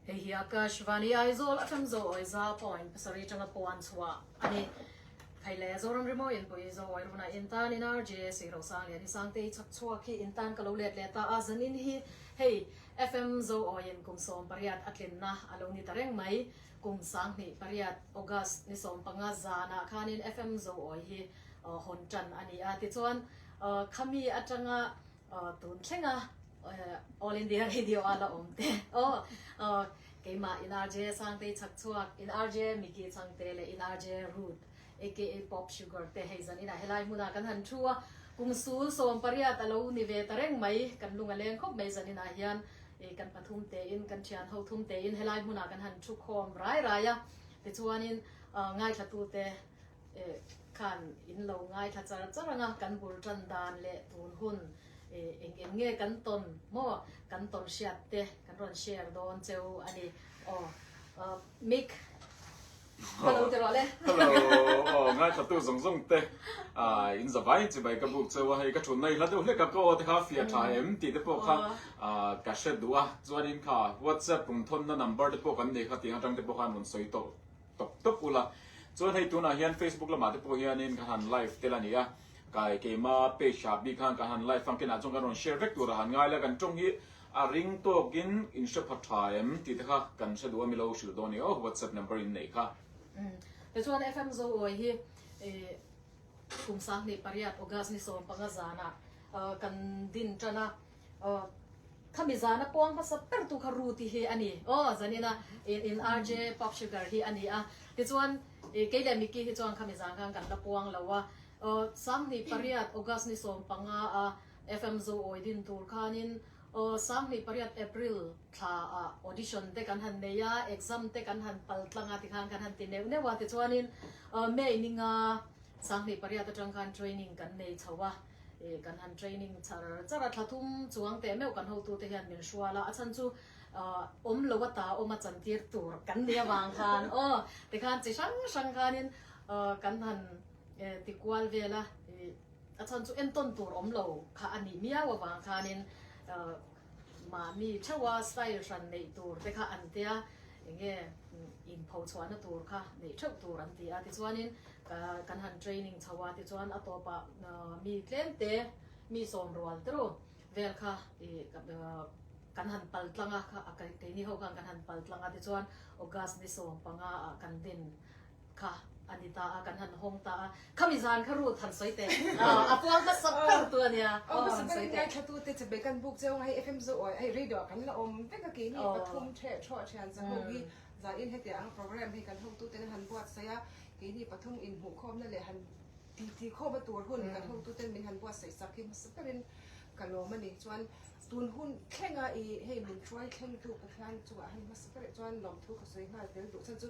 Hei hi Akashvani Aizawl aṭang zo awi za pawhin pasarih aṭanga puan chhuah a ni. Phei leh Zoram rimawi inpui zo awi run ah in tan in RJA Sihrohsang leh Nisangte hi chak chhuak hi in tan ka lo let leh ta a, zan in hi hei FM zo awi in kum sawm pariat a tlin na a lo ni ta reng mai. Kum sang hnih pariat August ni sawm panga zan ah khan in FM zo awi hi hawn ṭan a ni a. Tichuan khami aṭanga Aw, tun thleng a, All India Radio a la awm te. Aw, aw, keimah in RJ Sangtei chak chhuak, in RJ Micky Changte leh in RJ Ruth aka Pop Sugar te hei zan inah helai hmunah kan han thu a, kum sul sawm pariat a lo ni ve ta reng mai, kan lung a leng khawp mai zan inah hian ih kan pathum tein, kan thianho thum tein helai hmunah kan han thu khawm rai rai a. Tichuanin, aw, ngaithlatute khan in lo ngaithla char char ang a, kan bul tan dan leh tun hun eng eng nge kan tawn maw, kan tawn hriat te kan rawn share dawn cheu a ni. Aw Mick hello ti rawh le. Hello aw ngaihlatu zawng zawng te in zavai in chibai ka buk cheu a, hei ka thu naihla deuh hlek a ka aw te kha fiah tha em tih te pawh kha ka hre duh a, chuan in kha whatsapp kum thawn na number te pawh kan nei kha tih ang atang te pawh khan rawn sawi tawh. tawp tawp ula chuan hei tunah hian facebook lamah te pawh hianin kan han live tel a ni a kai keima page ah bik khan kan han live fangkinah chuan kan rawn share vek tur a han ngai la kan tawng hi a ring tawkin in hre pha tha em tih te kha kan hre duh a mi lo hrilh dawn ni awk whatsapp number in neih kha te chuan fm zo uai hi kum sang hnih pariat august ni sawm panga zana kan din tana Aw, khami zana pawng hmasa ber tu kha Ruti hi a ni. Aw, zanin a in RJ Pop Sugar hi a ni a. Tichuan i kei leh Mickey hi chuan khami zan khan kan la puang lo a. Aw, Sanghnih pariat August ni sawm panga a FM Zo awi din tur khanin aw, Sanghnih pariat April thla a audition te kan han nei a, exam te kan han pal tlang a ti khan kan han ti neuh neuh a. Tichuanin May ninga Sanghnih pariat atang khan training kan nei chho a. Ih kan han training char char a, thlathum chuang teh meuh kan hotu te hian min hrual a, a chhan chu ahh awm lo a ta awm a chan tir tur kan nih avang khan aw tikhan chi hrang hrang khanin ahh kan han eh ti kual vel a, ih a chhan chu entawn tur awm lo kha a nih miau avang khanin ahh. Mah mi theuha style hran neih tur te kha an tia, eng nge in pho chhuahna tur kha neih theuh tur an ti a. Tichuanin kan han training chho a, tichuan a tawpa mi tlem te, mi sawm rual teru vel kha kan han pal tlang a, keini ho khan kan han pal tlang a, tichuan August ni sawm panga ah kan din Kha a ni ta a, kan han hawng ta a. Khami zan kha rut han sawi teh. A puang kha sawt ber tu a nia. Aw han sawi teh. Ngaithlatu te chabe kan buk cheu nga hei FM Zaw awi ai radio ah kan la awm vek a keini pathum theh thawh thian za ho hi za in hetiang anga program hi kan hotu ten han buat saih a keini pathum in hmuh khawm na leh han ti ti khawm a tur hun kan hotu ten min han buat saih sak hi hmasa ber in ka lawm a ni chuan tun hun thlenga i hei min hruai thleng tu Pathian chung ah han hmasa ber chuan lawmthu ka sawi nghal tel duh chhan chu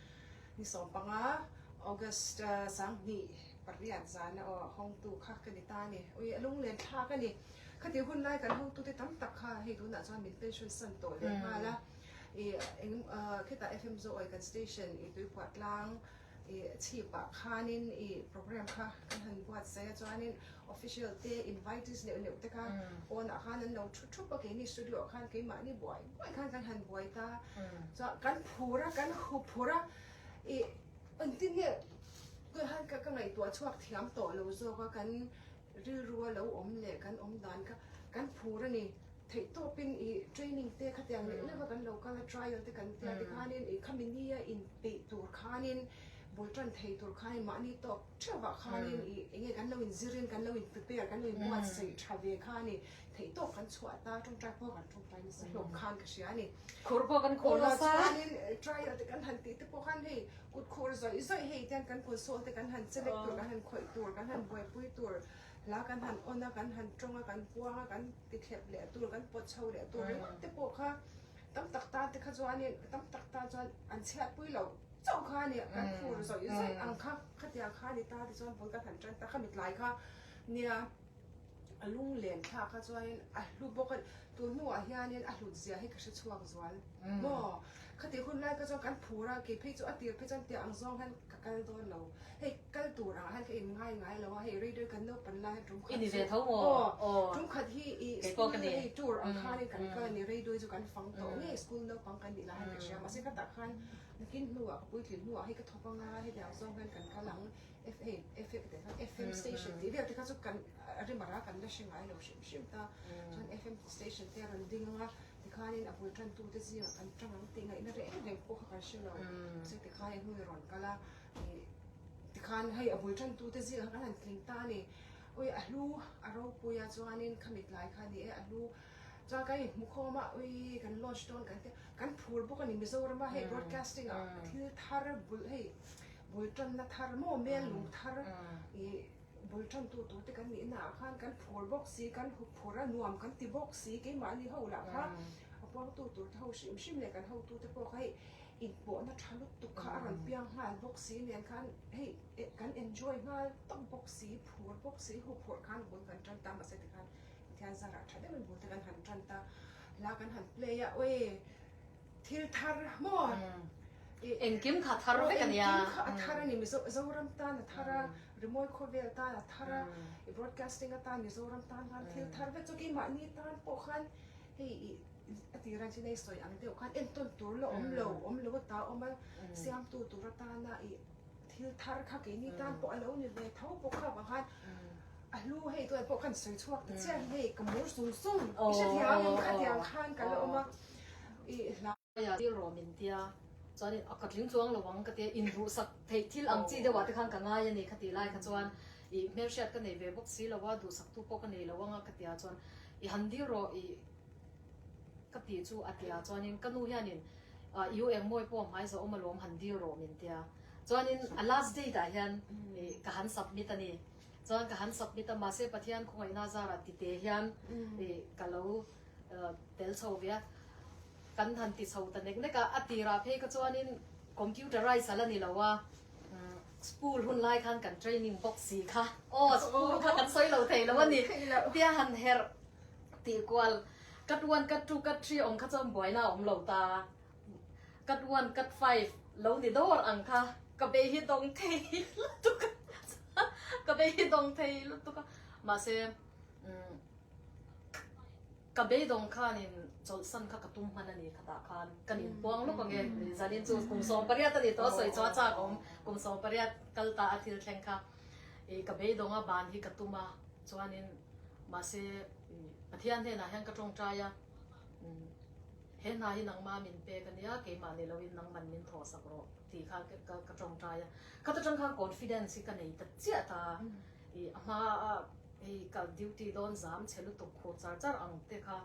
Ni sawm panga August sang hni pariat zan a hawngtu kha ka ni ta a ni. Ui, a lunglentthlak a ni. Khati hun lai kan hawngtute tam tak kha hei tunah chuan min pension san tawh leh nghal a. I eng khitah FM Zooi kan station i Tuipuattlang i chhipah khanin i program kha kan han buatsaih a chuanin, Official te, invitees neuh neuh te khan pawnah khan an lo thu thup a, keini studio ah khan keimahni buai buai khan kan han buai ta, chuan kan phur a, kan hu phur a, i engtin nge tunah khan ka ka ngaihtuah chhuak thiam tawh lo zawk a, kan rilru a lo awm leh kan awm dan kha kan phur a ni, theih tawp in i training te khatiang neuh neuh a kan lo kal a, trial te kan tia te khanin i kha mini a inpeih tur khanin bul tan thei tur khanin mahni tawp, Ṭha vah khanin i eng nge kan lo inzir in, kan lo in prepare, kan lo in buatsaih ṭha ve kha a ni. Theih tawk kan chhuah ta, ṭawngṭai pawh kan ṭawngṭai nasa hlawk khan ka hria a ni. Khur pawh kan khur nasa. Emaw chuanin trial te kan han tih te pawh khan hei kutkhur zawih zawih hei te hian kan console te kan han chelek tur, kan han khawih tur, kan han buaipui tur, hla kan han on a, kan han ṭawng a, kan puang a, kan ti thlep leh tur, kan pawt chho leh tur ringawt te pawh kha tam tak tan te kha chuanin tam tak tan chuan an chhiatpui lo. chauh kha a ni, kan fur zawih zawih ang kha, khatiang kha a ni ta te chuan bul ka hlan tan ta, kha mitlai kha nia a lung len thlak kha chuanin a hlu bawk a ni, tun hnua hianin a hlut zia hi ka hre chhuak zual maw, khati hun lai kha chuan kan fur a, kei phei chu a tir phei chuan tiang ang zawng hian ka kal dawn lo. Hei kal tur ah han in ngai ngai lo a, hei raider kan naupan lai han tum khat chu. I ni ve tho maw? Aw, tum khat hi i school hi hei tur ang khan in kan kal a ni, raidoi chu kan fang tawh nge school naupang kan nih lai han ri hria, mahse ka tah khan nakin hnu ah ka puitlin hnu ah hei ka thawk a nga, heti ang zawng hian kan kal ang, FM station tih vel te kha chu kan rimar a kan la hre ngai lo hrim hrim ta, chuan FM station te a rawn ding ang a, ti khan in a bul tan tu te zing ah kan tang ang, tih ngaih na reng reng pawh kha kan hre lo, mahse ti khan in hnu i rawn kal a. Tikhan hei a bul tantu te zia khan a han thleng ta a ni. Ui, a hlu a ropui a chuanin kha mitlai kha a ni e, a hlu. Chuan kan inhmu khawm a, ui, kan launch dawn kan tia. Kan phur bawk a ni Mizorama hei broadcasting ah thil thar bul hei bul tanna thar maw mel lung thar i bul tantu tu te kan nih naah khan kan phur bawk si, kan phur a nuam kan ti bawk si. Keimahni ho lah kha a puangtu tur te ho hrim hrim leh kan hotute pawh kha hei Inpawhna tha lutuk kha a rawn piang nghal bawk si nen khan hei kan enjoy nghal tak bawk si, phur bawk si, hu phurh khan bul kan tan ta mahse tikhan mithian zarah tha deuhin bul te kan han tan ta, hla kan han play a awee, thil thar maw Engkim kha a thar vek a ni a. Engkim kha a thar a ni, Mizoram tan a thar a, Rimawi khawvel tan a thar a, i broadcasting atan Mizoram tan khan thil thar vek chu kei mahni tan pawh khan hei i a tih ran chin a i sawi ang deuh khan entawn tur la awm lo, awm lo a ta awm a, siamtu tur atana i thil thar kha keini tan pawh a lo ni ve tho bawk a, vang khan a hlu hei tu ah pawh khan sawi chhuak ta chiah hi hei ka mur sung sung i hre thiam ang, kha tiang khan ka la awm a, i hla. Hmaiah thil rawh min tia, chuanin a ka tling tluang lo ang ka ti a, inruhsak theih thil ang chi deuhah te khan ka ngai a ni kha tih lai kha chuan i hmelhriat ka nei ve bawk si lo a, duhsaktu pawh ka nei lo ang a ka ti a chuan i han dil rawh i. Ka tih chu a tia chuanin ka nu hianin i u engmawi pawh hmai zawh awma lawm han dir rawh min tia. Chuanin a last date ah hian ka han submit a ni. Chuan ka han submit a mahse Pathian khawngaihnaa zar a tite hian ka lo tel chho ve a. Kan han ti chho ta nek nek a, a tirah phei kha chuanin computerise a la ni lo a, school hun lai khan kan training bawk si kha. Aw school kha kan sawi lo thei lo a ni. Tia han herh. Tih kual, Cut one, cut two, cut three awm kha chuan buaina a awm lo ta. Cut one, cut five lo ni dawr ang kha. Ka bei hi dawng thei lutuk a, ka bei hi dawng thei lutuk a. Mahse umm ka bei dawng khanin chawlhsan kha ka tum hman a ni khatah khan kan inpuang lawk ang e. Zanin chu kum sawmpariat a ni tawh a sawi chu a chak awm, kum sawmpariat kal ta a thil thleng kha. I ka beidawnga ban hi ka tum a, chuanin mahse Pathian hnenah hian ka tawngtai a, umm he hna hi nangma min pek a nia, keimahni loin nangman min thawhsak rawh tih kha ka tawngtai a. Khata tang khan confidence hi ka nei ta chiah ta, i a hmaa hei ka duty dawn zam chhe lutuk khur char char ang te kha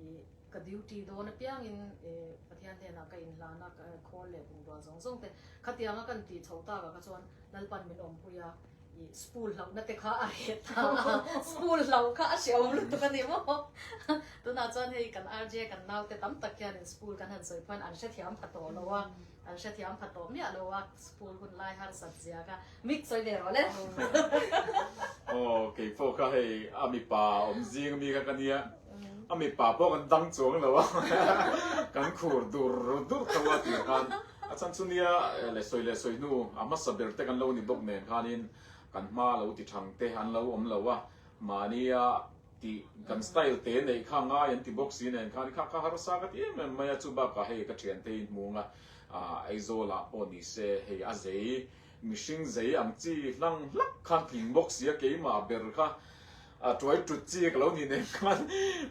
i ka duty dawn apiangin i Pathian hnenah ka inhlan a, khawl leh bungrua zawng zawng te khatianga ka inti chho tak ah kha chuan, Lalpan min awmpui a, i spool hlauhna te kha a heh ta a, spool hlauh kha a hre awm lutuk a ni maw? Tunah chuan hei kan RJ kan naute tam tak hianin spool kan han sawi phuan an hre thiam pha tawh lo a, an hre thiam pha tawh miah lo a, spool hun lai harsat zia kha mik sawi ve rawh le. Aw, kei pawh kha hei a mipa awm zing ami kha ka nia. a mipa pawh kan dang chuang lo a kan khur dur dur tho a tir khan a chan chu nia le sawi le sawi hnu a hmasa ber te kan lo ni bawk nen khan in kan hma lo ti thang te an lo awm lo a mahnia ti kan style te nei kha ngai an ti bawk si nen khan kha kha harsa ka ti em em mai a chu bak ah hei ka thian te in hmung a Aizawl ah pawh ni se hei a zei Mihring zei ang chi hlang hlak khan tling bawk sia keimah ber kha a tuai tut chi ka lo ni nem khan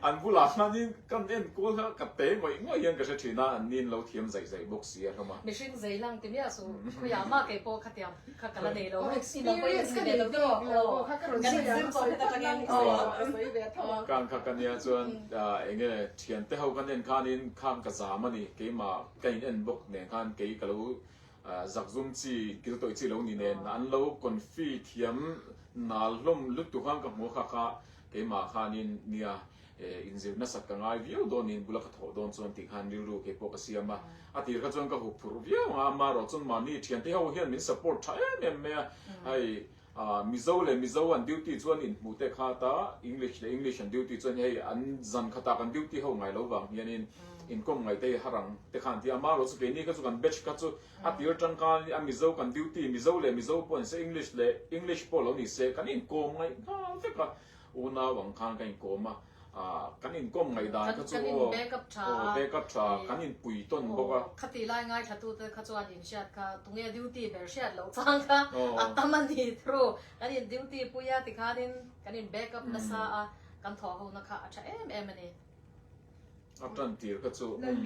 an bulah khanin kan enkual kha ka te ngawih ngawih hian ka hre thin a, an nin lo thiam zaih zaih bawk sia hlawm a. Mihring zei hlang ti miah suh, khawi ah mah kei pawh kha tiang kha ka la nei lo, experience ka nei tawh ang lo pawh kha ka rawn sawi ang a ka ṭang em chu a rawn sawi ve tho ang. Khang kha ka nia chuan eng nge thiante ho ka nen khanin khang ka zam a ni, keimah ka in en bawk nen khan kei ka lo Zak zum chi, kil tawih chi lo ni nen an lo konfi thiam nal hlawm lutuk khan ka hmu kha kha, keimah khanin nia inzir nasat ka ngai viau dawnin bula ka thawh dawn chuan tih khan rilru keipawh ka siam a, a tir kha chuan ka huk phurh viau ang a, amarawh chuan mahni thiante ho hian min support tha em em mai a, hei Ahh Mizo leh Mizo an duty chuan in hmuh tek ha ta, English leh English an duty chuan hei an zan khatah kan duty ho ngai lo vang hianin in kawm ngai te hi harang te kha an ti a, amah erawh chu keini kha chu kan batch kha chu a tir tangkang a Mizo kan duty Mizo leh Mizo pawh ni se English leh English pawh lo ni se kan inkawm ngai nghal vek a, unau ang khan ka inkawm a. Ahh, kan inkawm ngaihdan kha chu aw, aw backup tha a, kan inpui tawn bawk a. Khati lai ngaithlatute kha chuan inhriat kha, tunge duty ber hriat loh chang kha a tam a ni through. Kan in duty pui a tikhanin kan in backup nasa a, kan thawhhona kha a tha em em a ni. A tantir kha chu umm.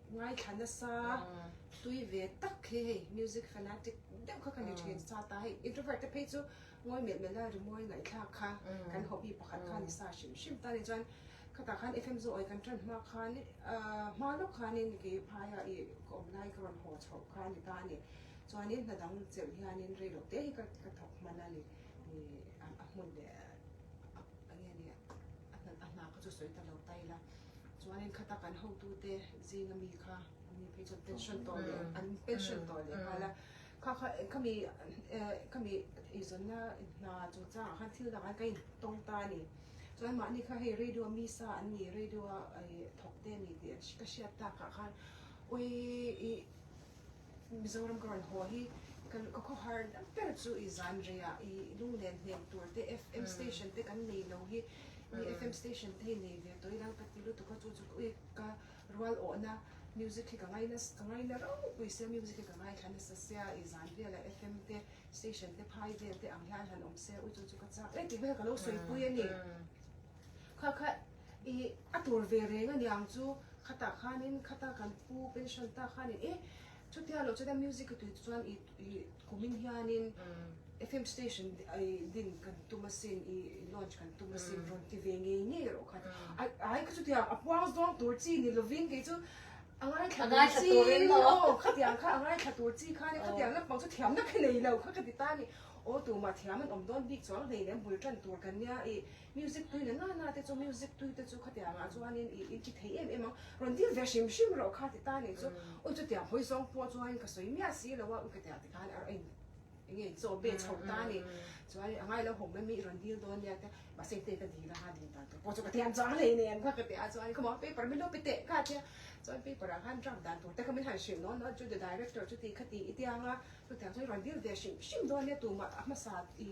Ngaithla nasa hlui ve tak hi hei music fanatic deuh kha ka ni thin sa ta hei introvert te phei chu ngawi melh melh a rimawi ngaihthlak kha kan hobby pakhat kha ni sa hrim hrim ta ni chuan khata khan fm zawh ai kan tan hma khan hma lawk khan in ki phaia i ka awm lai ka rawn haw chhoh kha ni ta ni chuan in hna dang cheu hian in rei lo te hi ka ka thawk hman a ni ni a hmun leh a nge ni a hna ka chu sawi ta lo ta ila. Chuanin kha ta kan hotute Zinga mi kha an mi phei chuan pension tawh leh an pension tawh leh nghal a. Kha kha ka mi ka mi eizawnna hna chung changah khan thil dangah ka intawng ta a ni. Chuan mahni kha hei radio mi sa an ni, radio a thawkte a ni tih ka hriat takah khan awi i Mizoram ka rawn haw hi ka ka khawhar dang ber chu i zan rei a, i lunglen hnem tur te FM station te kan nei lo hi i FM station te hi nei ve tawi dang ka ti lutuk a chu chu ui ka rual awhna music hi ka ngai na ka ngai na rau pui sia music hi ka ngaithla nasa sia i zan vel a FM te station te phai vel te ang hian han awm se ui chu chu ka chak e tih vel ka lo sawipui a ni kha kha. I a tur ve reng aniang chu khatah khanin khata kan pu pension ta khanin e chutia loh chuan music a tuite chuan i kumin hianin FM station i din kan tum asin i launch kan tum asin rawn ti ve ngei ngei rawh khat ai kha chutia a puang zawng tur chi ni lovin kei chu a ngaithla tur chi aw khatiang kha a ngaithla tur chi khanin khatiang lampang chu thiamna kha nei lo kha ka ti ta a ni aw tumah thiam an awm dawn bik chuang hleinem bul tan tur kan nia i Music tui na na na te chu music tui te chu khatiang ah chuanin i intih thei em em ang rawn dil ve hrim hrim rawh kha ti ta nen chu u chutiang hawi zawng pawh chuan ka sawi miah si lo a u katiang te khan a rawn eng nge chaw be chho ta a ni chuan a ngailo hawk mai mai i rawn dil dawn nia te mahse i teh ka dil a ha dil dan tur pawh chu ka ti ang chuan hei nen kha ka ti a chuan khawmual paper min lo pe teh kha a ti a chuan paper ah khan draft dan tur te kha min han hrilh nawn nawn chu the director chu ti kha ti i tiang a chutiang sawn i rawn dil ve hrim hrim dawn nia tumah a hmasa i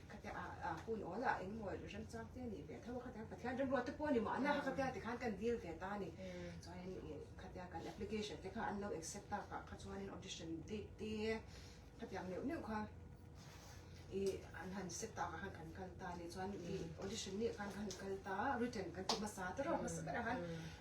Khatiang a a hun awl a eng maw rem chang te nih ve a tho a khatiang Pathian remruat te pawh ni mah ania kha khatiang te khan kan deal ve ta a ni chuan in ih khatiang kan application te kha an lo accept ta kah kha chuan in audition date te khatiang neuh neuh kha ih an han set ta kah khan kan kal ta a ni chuan ih audition miah khan ka han kal ta a written kan ti hmasa ta rawh hmasa ber ah khan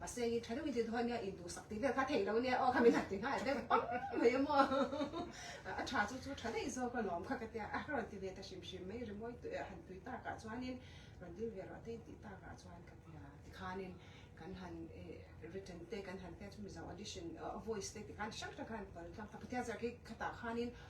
Paseng i tha deuh hi chu dawn nia, induh sak tih vel kha theih lo nia aw kha min han ti nghal deuh pam mai a maw. A tha chu chu tha daih zawk a lawm kha ka ti a, a ka rawn ti ve ta hrim hrim mai rimawi tui han tui tak ah chuanin rawn dil ve rawh tei tih tak ah chuan ka ti a, tikhanin kan han written te kan han tia chu mizo audition voice te ti khan hrang hrang khan an pawlh tlang ta, Pathian Zarki khatah khanin,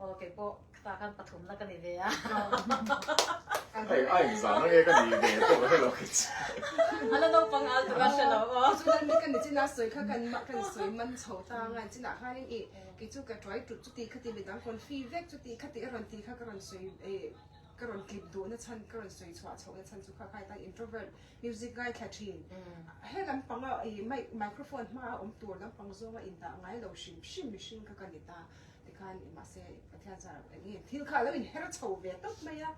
Aw kei pawh khata khan pathumna ka ni ve a. Hei a inzah na nge ka ni ve pawh ka hre lo khi chu. A la naupang al tura hre lo aw. Chu kan ni kan ni chinah sawi kha kan mah kan sawi man chho ta ang a chinah khanin i kei chu ka tuai tut chu tih kha ti mi dang kawn hri vek chu tih kha tih a rawn ti kha ka rawn sawi e ka rawn clip duh na chhan ka rawn sawi chhuah chhoh na chhan chu kha khai tan introvert music ngaithla thin he lam panga i mic microphone hma a awm tur lam pang zawnga in dah ngai lo hrim hrim mihring kha ka ni ta. tikhan i mah se pathian zara eng nge thil kha lo in her chho ve tawp mai a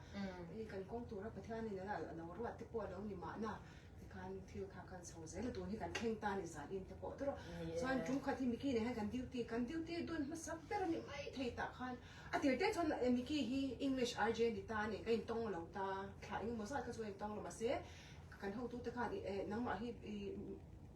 i kan kawng tura pathian in ala lo ruat te pawh lo ni mah na tikhan thil kha kan chho zel a tun hi kan kheng ta ni zan in te pawh tura chuan tum khat hi miki nei hian kan duty kan duty dun hmasa ber a ni mai thei tah khan a tir teh chuan e miki hi english rj a ni ta a ni ka in tawng lo ta thla eng emaw zat kha chu ka in tawng lo mah se kan hotu te khan i e nangmah hi i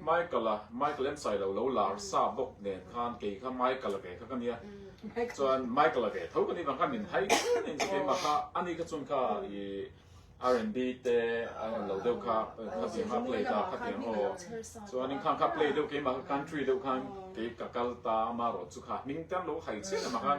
Michael a, Michael ensailo lo lar sa bawk nen khan kei kha Michael a ve kha ka nia. Chuan Michael a ve tho ka nih vang khan min hai thin a insa keimah kha ani kha chung kha i R and B te a rawn lo deuh kha khatiang kha play ta khatiang aw chuanin khang kha play deuh keimah kha country deuh khan kei ka kal ta Maro chu kha hming te an lo hai chian emaw khan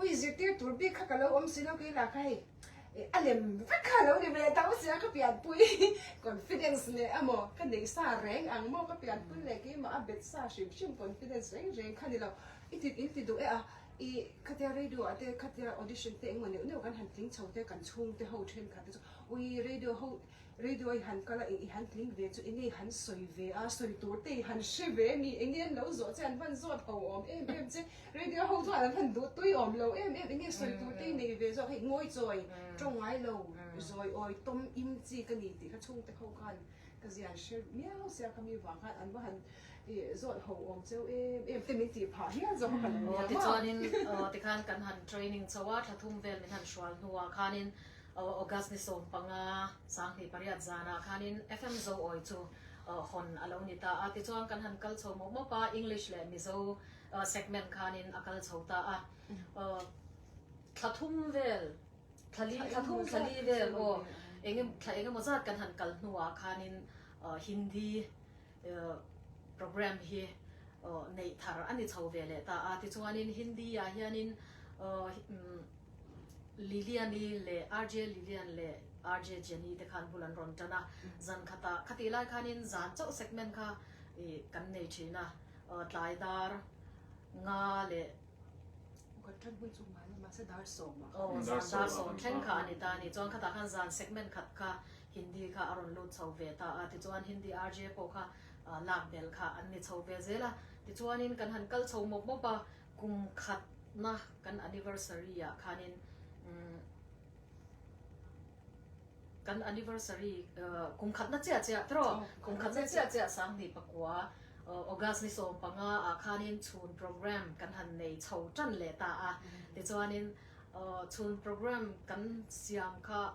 Ui zirtir tur bik kha ka lo awm si lo kei lah kha hei a lem vek kha lo ni ve tho si a ka pianpui confidence leh a maw ka nei sa reng ang maw ka pianpui leh kei mah a bet sa hrim hrim confidence reng reng kha ni lo i ti in ti duh e a i khatia radio ah te khatia audition te eng maw neuh neuh kan han tling chho te kan chhung te ho then khat te chu ui radio ho Radio i han kal a, eng i han tling ve chu enge i han sawi ve a, sawi tur te i han hre ve mi enge an lo zawh che an van zawt ho awm em em che, radio ho chuan an han duh tui awm lo em em, enge sawi tur te i nei ve zawk hei ngawi chawi tawng ngai lo, zawi awi tawm im chi ka ni tih kha chhung te ho khan ka zian hre miau se a, khami vang khan an va han zawt ho awm cheu em em te min tih phah hial zawk a ka la niam a. Aw tichuanin aw tikhan kan han training chho a, tha thum vel min han hrual hnuah khanin August ni sawm panga sanghnih pariat zanah khanin FM zo awi chu hawn a lo ni ta a. Tichuan kan han kal chho mawp mawp a, English leh Mizo segment khanin a kal chho ta a. Thla thum vel, thla li, thla thum thla li vel aw, eng emaw, thla eng emaw zat kan han kal hnuah khanin Hindi, programme hi neih thar a ni chho ve leh ta a. Tichuanin Hindi-ah hianin Liliani leh RJ Lilian leh RJ Jenny te khan bul an rawn tan a. Zan khatah, khati lai khanin zan chauh segment kha kan nei thin a. Tlai dar, nga leh. Kan tan hmun chu mahse dar sawm a. Aw, zan dar sawm thleng kha a ni ta a ni. Chuan khatah khan zan segment khat kha Hindi kha a rawn lut chho ve ta a, tichuan Hindi RJ pawh kha lak bel kha an ni chho ve zel a, tichuanin kan han kal chho mawp mawp a, kum khatna kan anniversary-ah khanin umm kan anniversary kum khatna chiah chiah trawh, kum khatna chiah chiah sang hnih pakua August ni sawm panga ah khanin chhun programme kan han nei chho tan leh ta a, tichuanin chhun programme kan siam kha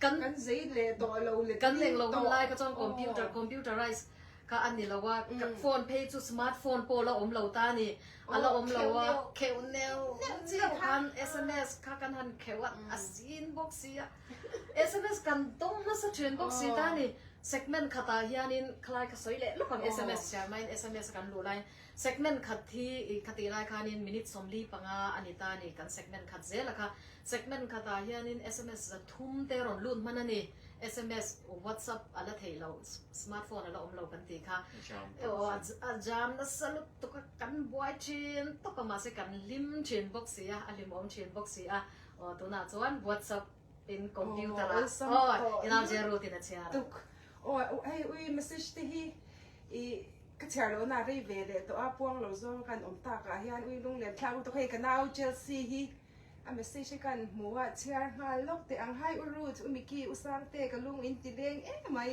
Kan zei leh tawh lo le kan leng lo hun lai kha chuan computer, computerised, kha a ni lo a. Phone phei chu smart phone pawh la awm lo ta a ni. A la awm lo a. Kheuh neuh neuh chi khan sms kha kan han kheuh a, a sin bawk si a. Sms kan dawng hmasa ṭhin bawk si ta a ni. Segment khatah hianin khalai kha sawi leh lawk ang sms siam aiin sms a kan luh laiin. Segment khat hi i ka tih lai khanin minute sawmli panga a ni ta ni, kan segment khat zel a kha. Segment khatah hianin sms za thum te rawn lut hman a ni. Sms, WhatsApp a la theih lo, smartphone a la awm lo kan tih kha. A jam nasa lut tuk a, kan buai thin tawp a, mahse kan hlim thin bawk si a, a hlim awm thin bawk si a. Aw tunah chuan WhatsApp Tin computer ah aw inang zia route in a chhiar a. Tuk aw hei ui message te hi i ka chhiar loh na rei ve leh tawh a puang lo zawng kan awm tak ah hian ui lung lem thlak lutuk hei ka nau Chelsea hi a message hi kan hmu a chhiar nghal lawk teh ang hi u Ruth u Micky u Sangte ka lung in ti leng em mai.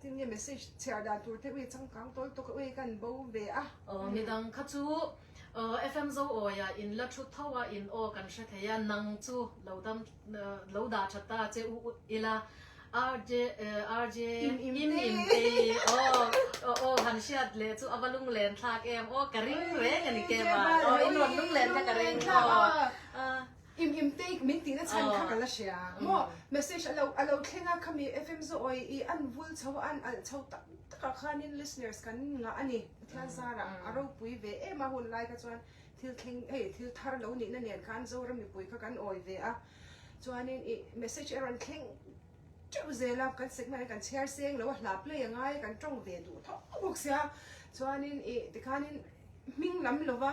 Tinge message chhiar dan tur te ui changkang tawl tawka ui ka an bo ve a. Midang kha chu FM zo awi ah in la thut tho a in aw kan hre thei a nang chu lo dam lo dah that ta che u ila RJ RJ im im te hi aw aw han hriat leh chu ava lung len thlak em aw ka ring reng ani kema aw in rawn lung len kha ka ring aw. Im im take min tihna chhan kha ka la hria maw message alo alo thleng a khami FM Zawi i an vul chho a an alh chho tak tak ah khan in listeners kan ngah ani pathian zar ah a ropui ve em a hun lai kha chuan thil thleng hei thil thar lo nih na nen kha an Zora mipui kha kan awi ve a chuan in i message a rawn thleng teuh zel a kan segment ah kan chhiar se englo a hla play anga i kan tawng ve duh thawk bawk sia chuan in i tikhan in hming lam lova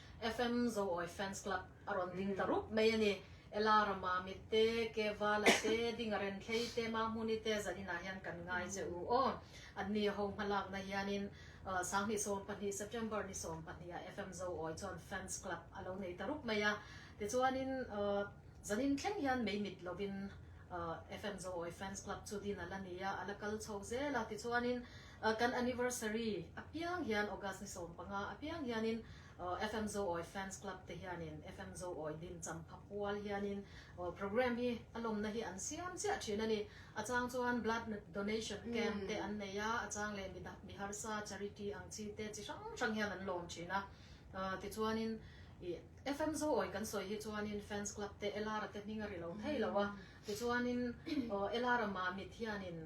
FM Zoawi Fans Club a rawn ding ta rup mai a ni. Ela rama mit te, Kevala te, Dinga Renthlei te, Mahmuni te zan inah hian kan ngai che u aw. An ni a ho hmalakna hianin Sang hnih sawm pahnih, September ni sawm pahnih ah FM Zoawi chuan Fans Club a lo nei ta rup mai a. Tichuanin zan in thleng hian mei mit lovin FM Zoawi Fans Club chu din a la ni a, a la kal chho zel a. Tichuanin A kan anniversary apiang hian August ni sawm panga apiang hianin FM Zo Awi Fans Club te hianin FM Zo Awi din champha pual hianin program hi a lawmna hi an siam chiah thin a ni. A chang chuan blood donation camp te an nei a, a chang leh mi harsa charity ang chi te chi hrang hrang hian an lawm thin a. Tichuanin FM Zo Awi kan sawi hi chuanin fans club te Elara te hming a ri lo thei lo a. Tichuanin aw ela ramah mit hianin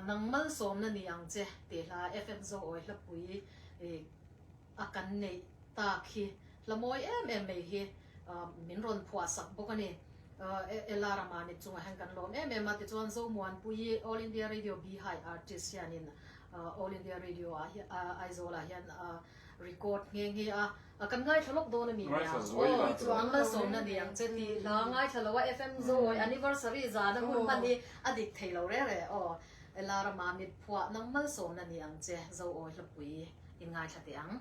nang malsawmna ni ang che tih hla FM Zawawi hlapui a kan neih tak hi hlamawi em em mai hi min rawn phuahsak bawk a ni. Ela ramah mit chungah hian kan lawm em em a, tichuan Zomuanpuii All India Radio Bihai artist hianin All India Radio ah Aizawlah hian a. Record nghe nghe a, a kan ngaithla lawk dawn a ni nia, aw, an malsawmna ni ang che tih hla a ngaithla lo a, FM Zawi anniversary zana hun hman hi a dik thei lo reng reng, aw, Ella rama mitphuah nang malsawmna ni ang che, Zawi Hlapui in ngaithla teh ang.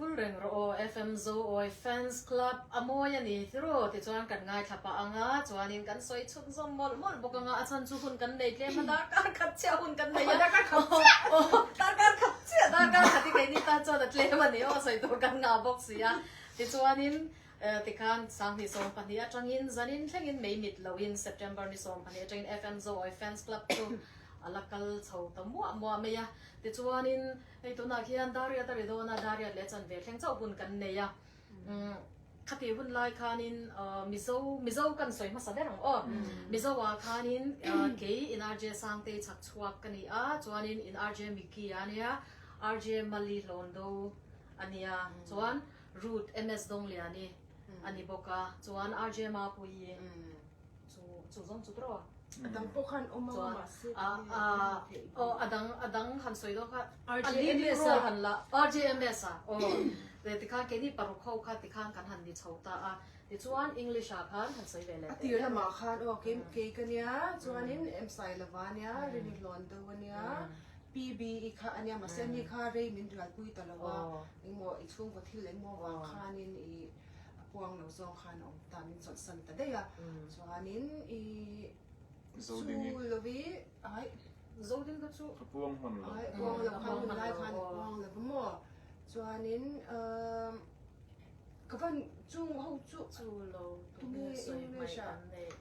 Phul reng rawh aw FMZO awii fans club a mawi a ni hi rawh ti chuan kan ngaithla pah anga chuanin kan sawi chhun zawm mawlh mawlh bawk anga a chhan chu hun kan nei tlem a darkar khat chiah hun kan nei a darkar khat chiah aw darkar khat chiah darkar khat hi keini tan chuan a tlem a ni aw sawi tur kan ngah bawk si a ti chuanin eh ti khan sang ni sawm pahnih atangin zan in thleng in mei mit lo in September ni sawm pahnih atangin FMZO awii fans club chu a la kal chho ta muah muah mai a ti chuanin Hei tunah khian Dariat a ri dawn a, Dariat leh chanve thleng chauh hun kan nei a. Khati hun lai khanin Mizo, Mizo kan sawi hmasa ber ang aw. Mizo ah khanin kei in RJ Sangtei chhak chhuak ka ni a, chuanin in RJ Micky a nia, RJ Mali Hlawndo a nia, chuan Ruth MS Dongliani a ni bawk a, chuan RJ Mapui. Chu zawng chu tro a dang pawh khan awm anga mahse ka ni a tlem a theih ve. Aw a dang a dang han sawi dawn kha RJMS a han la RJMS a aw ve tikhan keini paruk ho kha tikhan kan han ni chho ta a tichuan English ah khan han sawi ve leh teh em a tirlamah khan aw kei kei ka nia chuanin Msai lova a nia rei ni hlawn deuh a nia PBE kha a nia mahse ani kha rei min rialpui ta lo a engmawh i chhungkaw thil engmawh vang khanin i a puang lo zawng khan a awm ta min chawlhsan ta daih a, chuanin i Zo ding i. Chu lovi ai zo ding ka chu. A puang hman lo. Ai a puang lo khan hun lai khan a puang lo va maw chuanin umm ka va chung ho chu. Chu lo tum hi English ah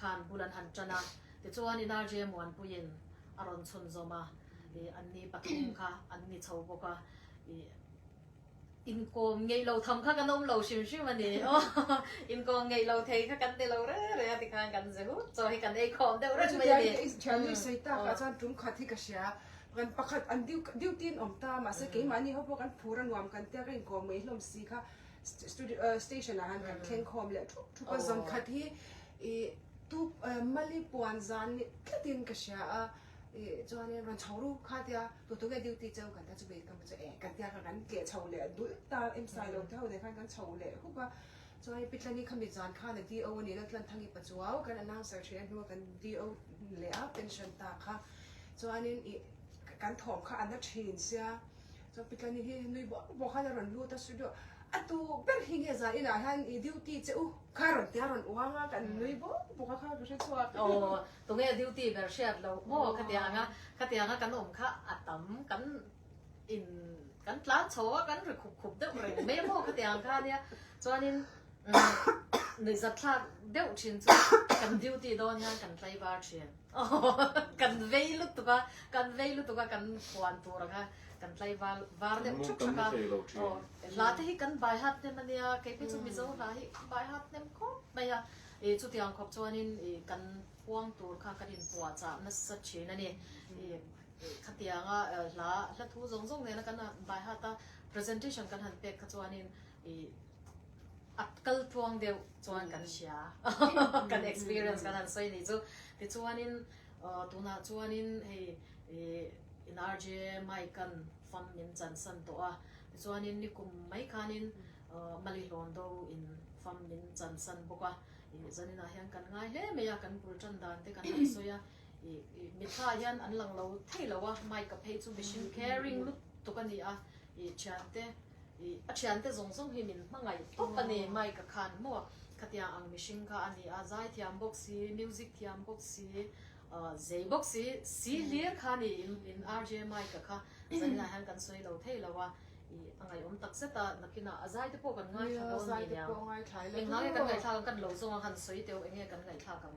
Khan bul an han tan a, tichuan Inarjee Muanpuiin a rawn chhunzawm a, ih an ni pathum kha an ni chho bawk a, ih inkawm ngeih lo tham kha kan awm lo hrim hrim a ni aw, inkawm ngeih lo thei kha kan ni lo re re a tikhan kan ze hut chaw hi kan eikhawm deuh rat mai a ni. Thian nui sawi tak ah chuan tum khat hi ka hria, kan pakhat an duty an awm ta mahse keimah ni ho pawh kan phur a nuam kan tia ka inkawm ngeihlawm si kha Station ah han kan thleng khawm leh thup thup a, zawn khat hi i tu Mali puan zan nih tlat in ka hria a, i chuan in rawn chho ru kha a tia, tû tawk e duty chau kan ta chu vei ka hmu chu e kan tia kha kan tleh chho leh dulh ta em sai lo te ho te khan kan chho leh hup a, chuan in Pitlani kha mi zan khan a DO a ni lo Tlanthangi pa chu au kan announcer ṭhin a hnunga kan DO leh a pension ta kha, chuan in i kan thawm kha a na ṭhin sia. Chapitani hi nui bawk bawk khan a rawn lut a studio a tu ber hi nge zan inah hian i duty che u kha rawn ti a a rawn uang a kan nui bawk bawk a kha ka hre chhuak. Aww tunge duty ber hriat lo maw ka ti ang a ka ti ang a kan awm kha a tam kan in kan tlan chho a kan ri khup khup deuh reng mai maw ka ti ang kha nia chuanin nuih zat thlak deuh thin chu kan duty dawn hian kan tlaivar thin. Kan vei lutuk a, kan vei lutuk a, kan puan tur ang a, kan tlai var var deuh thup thap a, aw, hla te hi kan bai hat hnem a nia, kei phei chu Mizo hla hi kan bai hat hnem khawp mai a, i chu tiang khawp chuan in i kan phuang tur kha kan in puah chah nasa thin a ni, i khatiang a hla hla thu zawng zawng nena kan han bai hat a, presentation kan han pek kha chuan in, a kal tluang deuh chuan kan hria kan experience kan han sawi ni chu tichuanin tunah chuanin hei in RJ Mike an fam min chansan tawh a tichuanin nikum mai khanin Mali hlawn do in fam min chansan bawk a zaninah hian kan ngai hle mai a kan bul tan dan te kan han sawi a mi thla hian an lang lo thei lo a Mike a phei chu mihring kher ring lutuk a ni a thiante. A thiante zawng zawng hi min hmangaih khawp a ni. Mike a khan hmawh. Khatiang ang mihring kha a ni a, zai thiam bawk si, music thiam bawk si, zei bawk si, si hlir kha ni in RJ Mike kha Zanina hian kan sawi lo thei lo a. A ngaiawm tak zet a, nakinah a zai te pawh kan ngaithla dawn ni nia. Engngai kan ngaithlak ang? Kan lo zawng ang han sawi teuh, enge kan ngaithlak ang?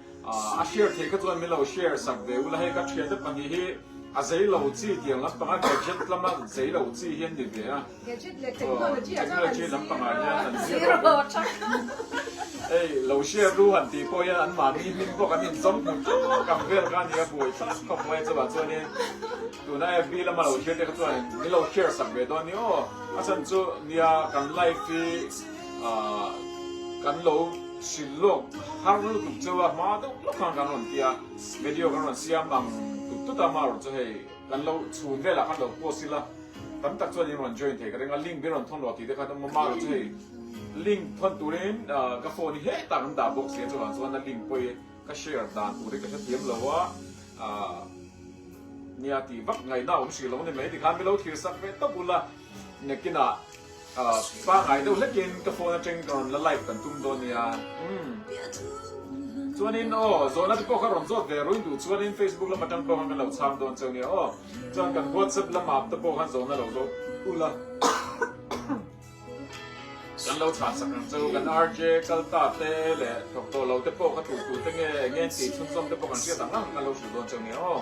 A share theih kha chuan min lo share sak ve ula hei ka thiate pahnih hi a zei lo chi tiang lampang a gadget lama zei lo chi hi an ni ve a. Gadget leh technology ah chuan an zir lo a. Technology lampang ah hian an zir lo a tha kha. Ei lo share ru han tih pawh hian an mami hming pawh kan inzawm hnu tawh kan vel kha a ni a buai tha khawp mai chuvah chuanin tuna FB lama lo thlir te kha chuan min lo share sak ve dawn a ni aw a chhan chu nia kan life hi kan lo hrilh lawk har lutuk cheu a hma deuh hlawk khan kan rawn ti a video kan rawn siam ang tut tut a mahro chu hei kan lo chhun vel ah khan lo post ila tam tak chuan in rawn join thei ka ring a link min rawn thawn lo tih te khan awm a mahro chu hei link thawn turin ka phone hi he tak an dah bawk sia chungah chuan a link pawii ka share dan tur hi ka hre thiam lo a nia tih vak ngaihna a awm hrih lo a ni mai tikhan min lo thirsak ve tawp ula. Nakinah pangai deuh hlekin ka phone ateng ka rawn la live kan tum dawn nia chuanin aw zawhna te pawh ka rawn zawt ve rui duh chuanin Facebook lam atang pawh khan kan lo chhang dawn cheu nia aw chuan kan WhatsApp lama te pawh khan zawhna lo zawt ula kan lo chhan sak ang cheu kan RJ kalta te leh thawk tawh lo te pawh ka tu tu te nge enge ti chhunzawm te pawh kan hriat ang ang kan lo hrilh dawn cheu nia aw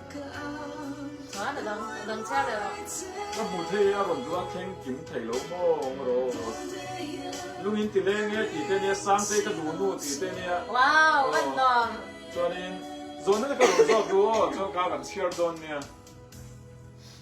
Ka hmu thei i a rawn duh a thleng kim thei lo mawng rawh. Lungin ti leng e tih te nia, sang te i ka duh nu tih te nia. Chuanin, zawhna te ka rawn zawk duh aw, chuan ka kan chhiar dawn nia.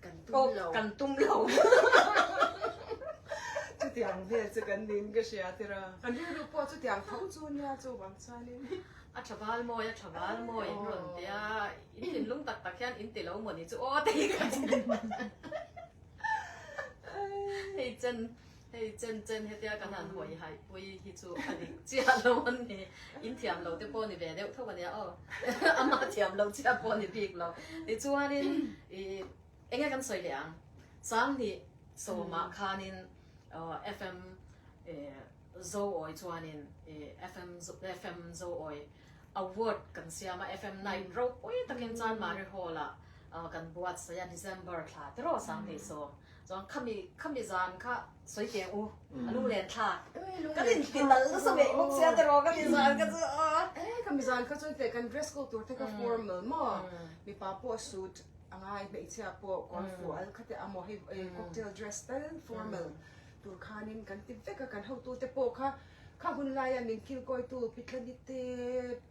Kan tum lo. Oh, kan tum lo. Chutiang vel chu kan nin ka hria tir a. Kan rilru pawh chutiang tho chu nia chu vang chuanin. A tha bal mawi, a tha bal mawi in rawn ti a. In thinlung tak tak hian in ti lo maw ni chu aw te hi ka ti. Hei chan Hei chen chen hetia kan han hawi haipui hi chu a dik chiah lo a ni. In thiam lo te pawh a ni ve deuh thauh a nia aw. Ama thiam lo chiah pawh a ni bik lo. Tichuanin i enge kan sawi leh ang, Sanghnih sawmah khanin FM Zoawi chuanin FM FM Zoawi Award kan siam a, FM night ropui takin chuan Marihawla kan buatsaih a, December thla te rawh Sanghnih sawm. Chuan khami, khami zan kha sawi teng u, a lu len thla. Ka rin ti tal nasa ve bawk sia te rawh, khami zan kha chu aw. Ei, khami zan kha chu kan dress code tur te kha formal maw? Mipa pawh suit a ngai, hmeichhia pawh kawr fual kha te amaw, hei cocktail dress fel formal tur khanin kan ti vek a, kan hotute pawh kha kha hun laia min kilkawitu Pitlani te,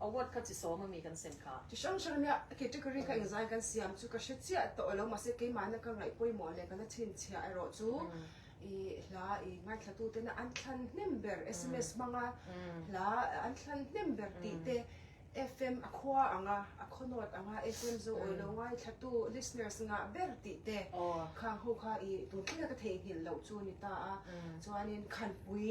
Award kha chi sawm ami kan sem kha. Chi hrang hrang nia category kha engzai kan siam chu ka hre chiah tawh lo mahse keimahna ka ngaih pawimawh leh kan a chhinchhiah erawh chu i hla i ngaithla-tu tena an thlan hnem ber sms hmanga hla an thlan hnem ber tih te FM a khua anga a khawnaut anga FM zo awilo ngaithlatu listeners ngah ber tih te khang ho kha i tun thleng a ka theihnghilh loh chu ni ta a chuanin khanpui.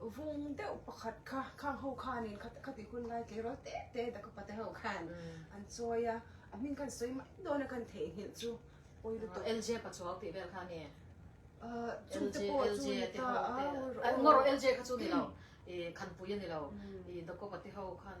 Vung deuh pakhat kha khang ho khanin kha kha tih hun lai tleirawl te te taka pa te ho khan an chawi a, a hming khan sawi mai dawn a khan theihnghilh chu pawi lutuk. Aw LJ pa chuau tih vel kha a ni e? Ahh chute pawh chu ni ta a. Engmawraw LJ kha chu ni lo, i Khanpuia ni lo, i Dakopa te ho khan.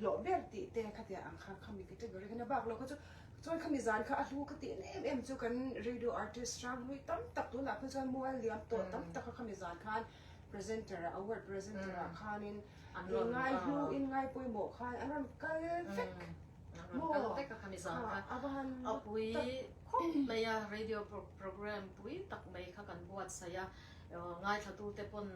hlawh ber tih te kha tia ang kha khami category khan a bak lo kha chu chuan khami zan kha a hlu kha ti en em em chu kan radio artist rang hlui tam tak tunah khan chuan mual liam tawh tam tak kha khami zan khan presenter ah award presenter ah khanin an rawn ngai hlu in ngai pawimawh khan an rawn kal vek an rawn kal vek a khami zan kha a van a pui khawp mai a radio program pui tak mai kha kan buatsaih a ngaithla tute pawn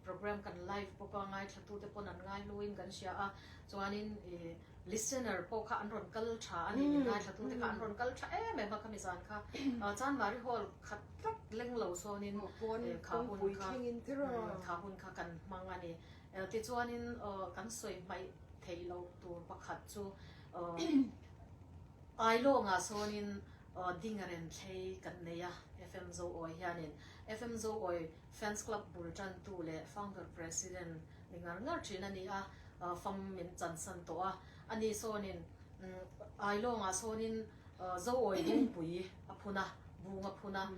Programme kan live bawk a, ngaithlatute pawn an ngaihluin kan hria a, chuanin i listener pawh kha an rawn kal tha a ni, ngaihlatute kha an rawn kal tha em em a khami zan kha, chuan Mari Hall khat rat leng lo sawnin khahun kha, khahun kha kan hmang a ni. Tichuanin kan sawi hmaih theih loh tur pakhat chu Ailawngah sawnin ding a renthlei kan nei a, FM Zoawi hianin, FM Zoawi Fans Club bul tantu leh Founder President ni ngar ngar thin a ni a, fam min chansan tawh a, a ni sawnin Ailawnga sawnin Zoawi Bungpui a phun a, Bung a phun a,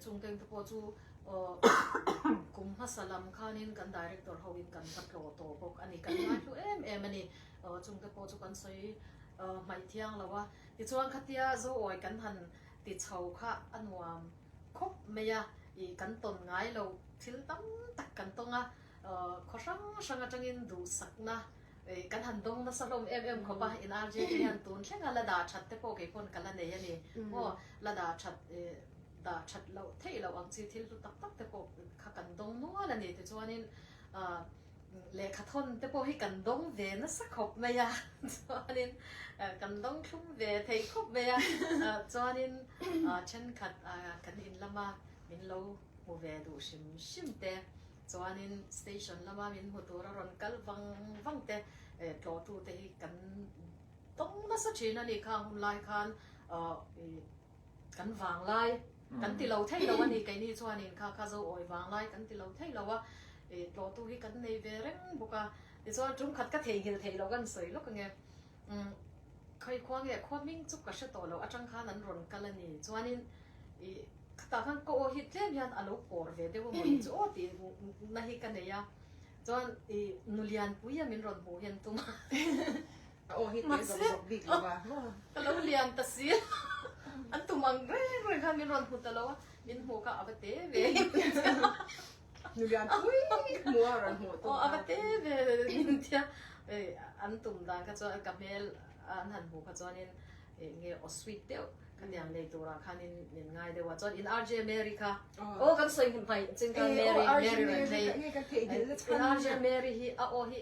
chungkeng te pawh chu kum hmasa lam khanin kan Director ho in kan va tlaw tawh bawk a ni, kan ngaihlu em em a ni, chung te pawh chu kan sawi hmaih thiang lo a, tichuan khatia Zoawi kan han ti chho kha a nuam. khawp mai a, ih kan tawn ngai lo, thil tam tak kan tawng a, khaw hrang hrang atangin duhsakna, ih kan han dawng nasa hlawm em em khawp a, in RJ te hian tun thlenga la dah that te pawh keipaw'n ka la nei a ni maw, la dah that, ih dah that loh theih loh ang chi thil hlu tak tak te pawh kha kan dawng nual a ni tichuanin, ah. Lehkha thawn te pawh hi kan dawng ve nasa khawp mai a, chuanin kan dawng thlum ve thei khawp mai a, chuanin thenkhat kan in lama min lo hmu ve duh hrim hrim te, chuanin station lama min hmu tur a rawn kal vang vang te tlawhtute hi kan dawng nasa thin a ni kha, hunlai khan Kan vang lai kan ti lo thei lo a ni, keini chuanin kha kha zo awi vang lai kan ti lo thei lo a, ih tlawtu hi kan nei ve reng bawk a, tichuan tum khat ka thei nghil thei lo kan sawi lawk ange, umm khawi khua nge khua hming chu ka hre tawh lo atang khan an rawn kal a ni, chuanin ih khatah khan ka aw hi tlem hian a lo pawr ve deuh a mawni chu aw tih na hi ka nei a, chuan ih Nulianpuia min rawn hmuh hian tum a. Mahse ka lo lian ta si a, an tum ang reng reng kha min rawn hmu ta lo a, min hmuh kha a va te ve nulian pui hmu a rawn hmuh tawh a va te ve min ti a an tum dan kha chuan ka hmel an han hmuh kha chuanin nge aw sweet deuh ka tiang nei tura khanin min ngai deuh a chuan in RJ Mary kha aw kan sawi hnu hmai chin khan Mary Mary rawn thei in RJ Mary hi a aw hi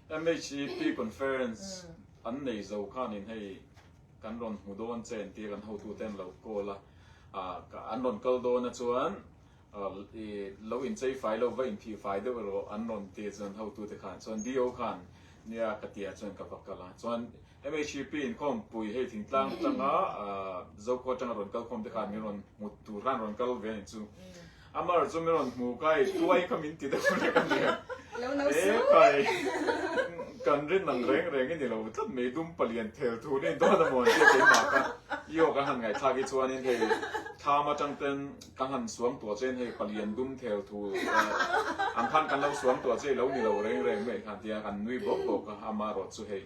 MHEP Conference an nei zo khan in hei kan rawn hmu dawn che an ti a, kan hotu te an lo call a, an rawn kal dawn a chuan lo in chei fai lo va in thih fai deuh erawh an rawn ti a chuan hotu te khan chuan DO khan nia ka ti a chuan ka va kal a chuan Mhcp inkhawm pui hei thingtlang tanga Zokhua tanga rawn kal khawm te khan min rawn hmut tur han rawn kal ve ni chu. Amar chu min rawn hmu kai tuai kha min ti deuh lek a ni. Epai kan rin ang reng reng i ni lo tlat mai dum palian thel thu nei dawn a maw sia keimah kha i awk a han ngaithak hi chuan in hei tham atang ten ka han suang tuah che in hei palian dum thel thu ang khan kan lo suang tuah che i lo ni lo reng reng mai khan tia kan nui bawk bawk a Amar rawt chu hei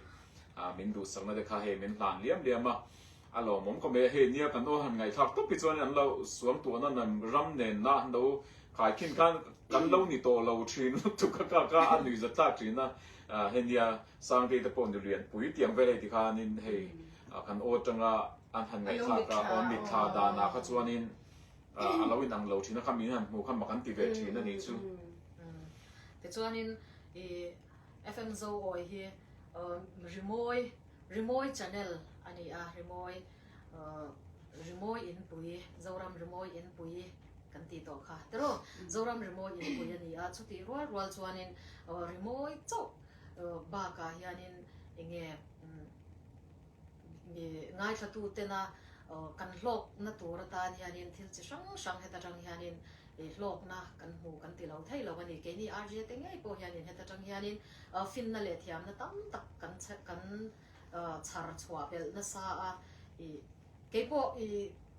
a min duhsakna te kha hei min hlan liam liam a, a lawmawm khawp mai a, hei nia kan aw han ngaithlak tawp hi chuan an lo suam tuah na nan ram nen na an lo khaikhin khan kan lo ni tawh lo thin lutuk a ka ka a nui zat thlak thin a, hei nia Sangte te pawh nulian pui tiang vel hei tikhanin hei kan aw tanga an han ngaithlak a aw mit thla dan ah kha chuanin a lo inang lo thin a kha min han hmuh kha ma kan ti ve thin a nih chu. Tichuanin i. FM Zoawi hi rimawi rimawi channel a ni a, rimawi rimawi inpui, Zoram rimawi inpui kan tih tawh kha tiraw, Zoram rimawi inpui a ni a, chutih rual rual chuanin rimawi chauh bakah hianin enge Ngaithlatutena kan hlawkna tur atan hianin thil chi hrang hrang heta tang hianin hlawkna kan hmu kan ti lo thei lo a ni. Keini rga te ngei pawh hianin heta tang hianin finna leh thiamna tam tak kan kan chhar chhuah belh nasa a. Keipawh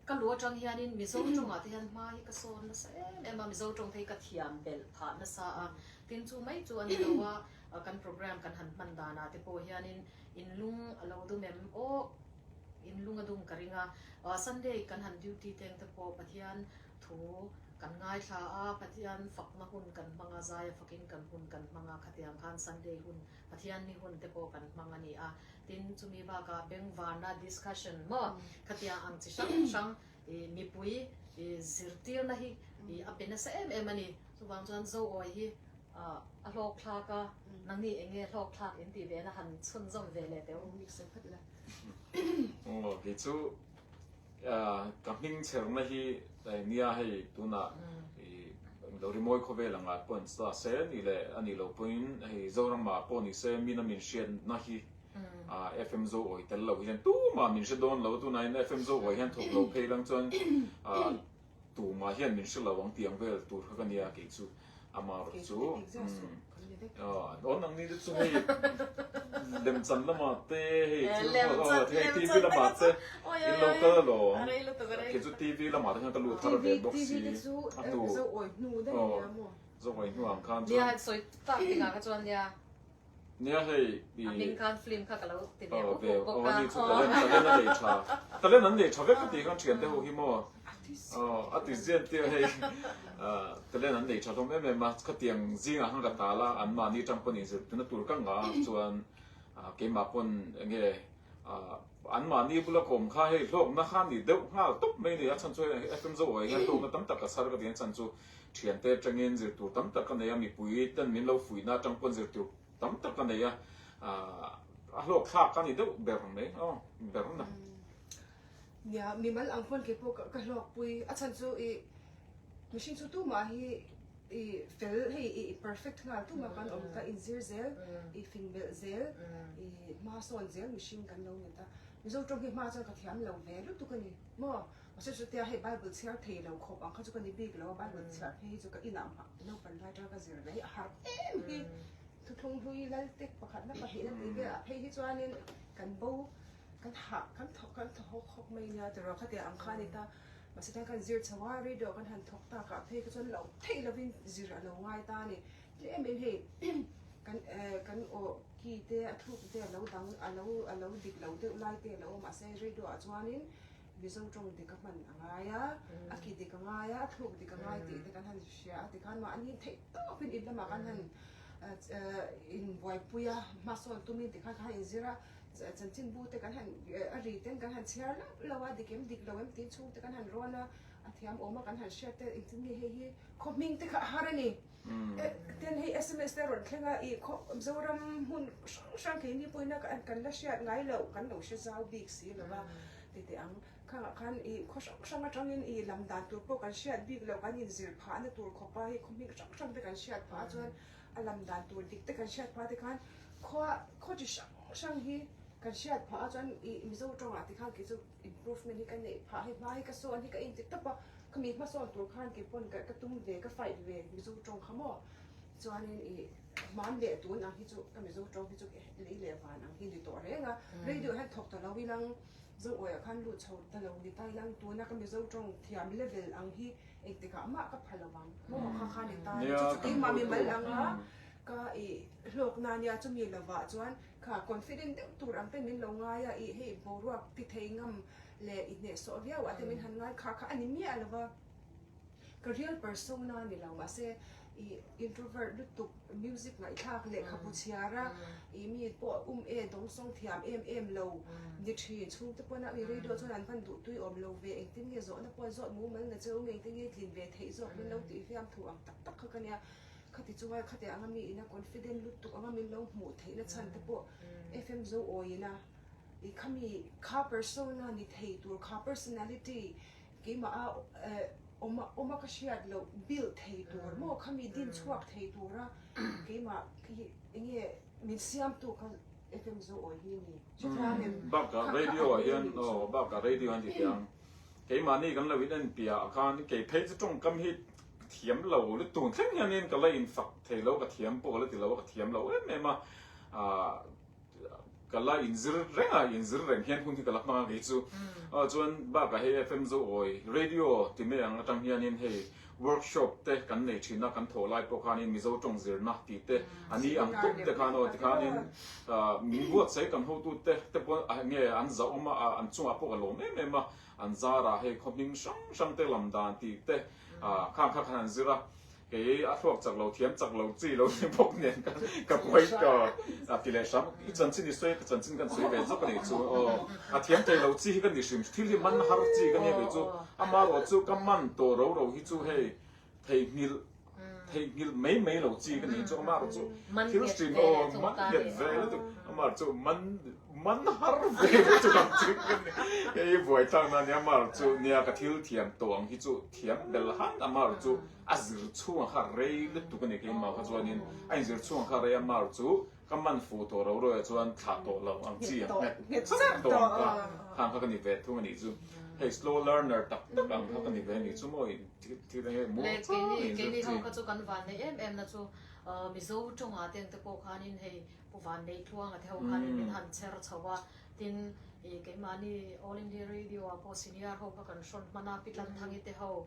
ka lu atang hianin Mizo tawngah te hian hma hi ka sawn nasa em em a, Mizo tawng phei ka thiam belh phah nasa a. Tin chu mai chu a ni lo a. Kan programme kan han hman danah te pawh hianin in lung a lo dum em awh, in lung a dum ka ring a. Sunday kan han duty teng te pawh Pathian thu kan ngaithla a, Pathian fakna hun kan hmang a, zaia fakin kan hun kan hmang a, khatiang khan Sunday hun, Pathianni hun te pawh kan hmang a ni a. Tin, chumi bakah bengvarna discussion maw, khatiang ang chi hrang hrang I mipui i zirtirna hi i a pe nasa em em a ni. Chuvang chuan Zoawi hi a hlawkthlak a, nangni eng nge hlawkthlak in tih vena han chhun zawm ve leh teh u. Aw, kei chu ka hming chherna hi nia hei tunah i lo rimawi khaw vel angah pawh se ni le, a nih loh pawhin hei Zorama pawh ni se min a min hriatna hi. a FM zo awi tel lo hi hian tumah min hre dawn lo, tunahin a FM zo awi hian thawk lo phei lang chuan tumah hian min hre lo ang tih ang vel tur kha ka nia, kei chu ama rawh chu dawn ang ni te chu hei lemchan lama te hei hei TV lama te in lo kal alawm, kei chu TV lama te khan ka luh thar ve bawk si a tu zo awi hnu ang khan chuan. Nia hei i. A ming khan film kha ka lo ti ve pu pu bawk a. Aww talent talent a nei tha. Talent an nei tha vek ka ti khan thian te ho hi maw. Artist. Aww artist zen tia hei talent an nei tha hlawm em em a khatiang zing ah khan ka tal a an mahni tang pawh nih zir tuna tur ka ngah a chuan keimah pawn enge an mahni bula kawm kha hei hlawkna khan nih deuh nghal tawp mai a ni a chhan chu hei FM Zoe ah hian hlawkna tam tak ka sar ka ti ang chhan chu. Thiante atangin zir tur tam tak ka nei a, mipui ten min lo fuihna atang pawh zir tur tam tak ka nei a, a hlawkthlak a ni deuh ber ang mai aw ber na. Nia, mi mal ang pawn kei pawh ka hlawkpui, a chhan chu i mihring chu tumah hi i fel hei i perfect nghal tum a kan awm, ka inzir zel, i fin melh zel, i hmasawn zel mihring kan lo ni ta, Mizo tawng hi hma chuan ka thiam lo ve lutuk a ni maw? Ka hre chutia hei Bible chhiar thei lo khawp ang kha chu ka ni bik lo a, Bible chhiar phei hi chu ka inah hmah naupan lai atanga ka zir mai a harh em hi thuthlung hlui lal tek pakhatna pahnih na ti ve a, phei hi chuanin kan bo kan harh kan thaw kan thaw hawk hawk mai nia ti rawh khatia ang kha a ni ta, mahse tan kan zir chho a radio kan han thawk tak ah phei kha chuan lo theih lovin zir a lo ngai ta a ni tlem em hei kan eh kan aw ki te a thuk te a lo dang a lo a lo dik lo deuh lai te a lo awm mahse radio ah chuanin Mizo tawng dik a hman a ngai a, a ki dik a ngai a, a thluk dik a ngai tih te kan han hria a. Tikhan mahni in theih tawpin in lamah kan han inbuaipui a, hmasawn tumin tikhan kan han inzir a, chanchin bu te kan han, a ri ten kan han chhiar lam lo a, dik em dik lo em tiin chhungte kan han rawn a, a thiam awm a kan han hriat te, engtin nge hei hi khawhmingte kha a har a ni. Ten hi sms te rawn thleng a, i khaw Mizoram hmun hrang hrang kei ni pawhin a kan la hriat ngai lo, kan lo hre zau bik si lo va, ti teh ang. Khangah khan i khaw hrang hrang atangin i lam dan tur pawh kan hriat bik lo, kan inzir phah na tur khawpa hi khawhming hrang hrang te kan hriat phah a, chuan a lam dan tur dik te kan hriat phah te khan khaw khaw chi hrang hrang hi kan hriat phah a, chuan i Mizo tawngah ti khan kei chu Improvement hi ka neih phah hi hmai ka sawn hi ka inti tawp a, khami hmasawn tur khan kei pawn ka ka tum ve ka fight ve Mizo tawng kha maw chuanin i hman leh tun ang hi chu ka Mizo tawng hi chu ka lei leh van ang hi ni tawh reng a, radio hian thawk ta lo in ang Zawngawia khan lut chho ta lo ni ta in ang tuna ka Mizo tawng thiam level ang hi engti kah mah ka pha lo ang maw kha khan ni ta chu chu keimah mi mal ang a ka i hlawkna nia chumi lovah chuan kha confident deuh tur ang ten min lo ngai a, i hei boruak ti thei ngam leh i hnehsawh viau ah te min han ngai kha kha a ni miah lo va, ka real persona a ni lo mahse i introvert lutuk music ngaihthlak lehkhabu chhiar a i mi pawh um e dawng sawng thiam em em lo ni thin chhung te pawn a i radio chuan an van duh tui awm lo ve engtin nge zawhna pawh zawh mumal na che um engtin nge tlin ve theih zawk min lo tih hiam thu ang tak tak kha ka nia. Khati chu ngai khate anga mi ina confident lutuk anga min lo hmuh theih na chhan te pawh FM zo awi ina i khami kha persona ni thei tur kha personality keimah a awma awma ka hriat loh build thei tur maw khami din chhuak thei tura keimah khi enge min siam tu kha FM zo awi hi ani chutlang em bak a radio ah hian aw bak a radio ani ti ang keimah ni kan lo in en piah a khan kei phei chu tawngkam hi thiam lo lutuk thleng hianin ka la infak thei lo, ka thiam pawh ka la ti lo a, ka thiam lo em em a, ah ka la inzir reng a, inzir reng hian hun hi ka la hmang a kei chu, ah chuan bakah hei FM zo awi radio ti mai ang atang hianin hei workshop te kan nei thin a, kan thawh lai pawh khanin Mizo tawng zirna tih te an ni ang khawp te khan aw tikhanin ah min buatsaih kan hotute te pawh nge an zahawm a, an chungah pawh ka lawm em em a, An zarah hei khawhhming hrang hrangte lam dan tih te khang kha khan an zir a, kei a hluak chak lo, thiam chak lo chi lo ni bawk nen ka buai tawh. A ti leh hram, i chanchin i sawi a, ka chanchin kan sawi ve zawk a nih chu aw, a thiam thei lo chi hi ka ni hrim, thil hi man har chi ka nih ve chu, amaherawhchu ka man tawh roro hi chu hei Theihnghilh, theihnghilh mai mai lo chi ka nih chu a mar chu thil hrin aw man nghet ve lutuk a mar chu man man har ve ka chu dang chik ka ni hei buai tlang nan hian a mar chu nia ka thil thiam tawh ang hi chu thiam belh han a mar chu a zir chhung a kha rei lutuk a ni keimah kha chuan in a in zir chhung a kha rei a mar chu Ka man fuh tawh lo ruaia chuan thlah tawh lo ang chi ang nghet nghet ser tawh ang kha khang kha ka ni ve thung a nih chu. Hei slow learner tak tak ang kha ka ni ve a nih chu maw i thil a hei muang chuang a inzir chi. Keini ho kha chu kan van nei em em na chu Mizo tawngah te ang te pawh khan in hei pu van nei thluang a te ho khan in min han chher chho a tin i keimahni All India Radio ah pawh senior ho kha kan hrawn hman a Pi Tlanthangite ho,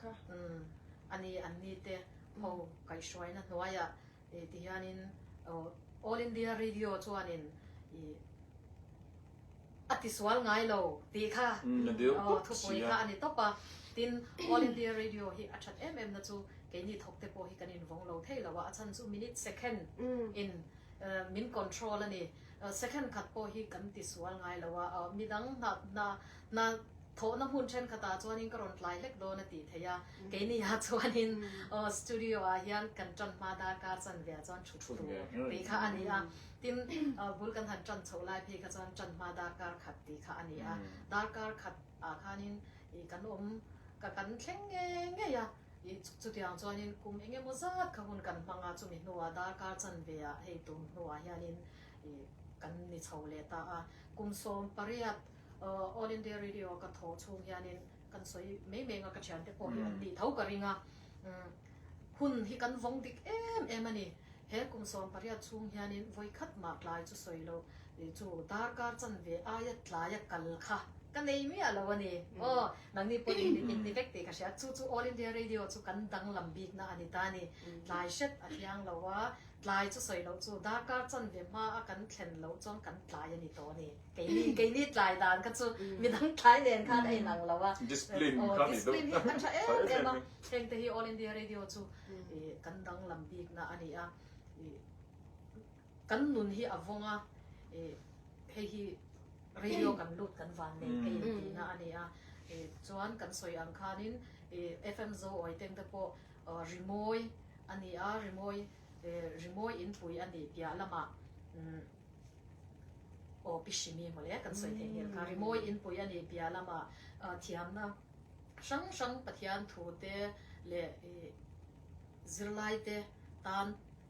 kha. Umm, a ni an ni te ho kaih hruaina hnuaiah ih ti hianin All India Radio chuanin ih a ti sual ngai lo tih kha thupui kha a ni tawp a. Tin, All India Radio hi a that em em na chu keini thawk te pawh hi kan invawng lo thei lo a, a chhan chu minute, second, in min control a ni. Second khat pawh hi kan ti sual ngai lo a, midang hna hna hna Thawhna hmun thenkhatah chuanin ka rawn tlai hlek dawn a tih theih a, keinihah chuanin studio-ah hian kan tan hma dar kar chanveah chuan thu thu thu tih kha a ni a, tin bul kan han tan chhoh lai phei kha chuan tan hma dar kar khat tih kha a ni a, dar kar khat ah khanin ih kan awm ka kan thleng nge ngei a, ih chutiang chuanin kum eng emaw zat kha hun kan hmang a, chumi hnuah dar kar chanveah hei tum hnuah hianin ih kan ni chho leh ta a, kum sawm pariat All India Radio ka thaw chhung hianin kan sawi mai mai nga ka thian te pawh hi an tih tho ka ring a, hun hi kan vawng dik em em a ni. He kum sawm pariat chhung hianin vawi khat mah tlai chu sawi lo tih chu darkar chanve aia tlaia kal kha ka nei miah lo a ni. Aw, nang ni pawh in in ni vek tih ka hria. Chu chu All India Radio chu kan danglam bikna a ni ta a ni. Tlai hret a thiang lo a, tlai chu sawi loh chu darkar chanve hma a kan thlen loh chuan kan tlai a ni tawh a ni. Keini keini tlai dan kha chu midang tlai nen khan a inang lo a. Discipline hi a tha em em a. Heng te hi All India Radio chu kan danglam bikna a ni a. Kan nun hi a vawng a, hei hi radio kan lut kan van nei ka in tihna a ni a. Chuan kan sawi ang khanin FM Zo Awiteng te pawh rimawi a ni a, rimawi rimawi inpui a ni piah lamah. Aw pi hri mi mawle kan sawi thei nghil kha rimawi in pui ani pia lama thiamna hrang hrang pathian thu te leh zirlai te tan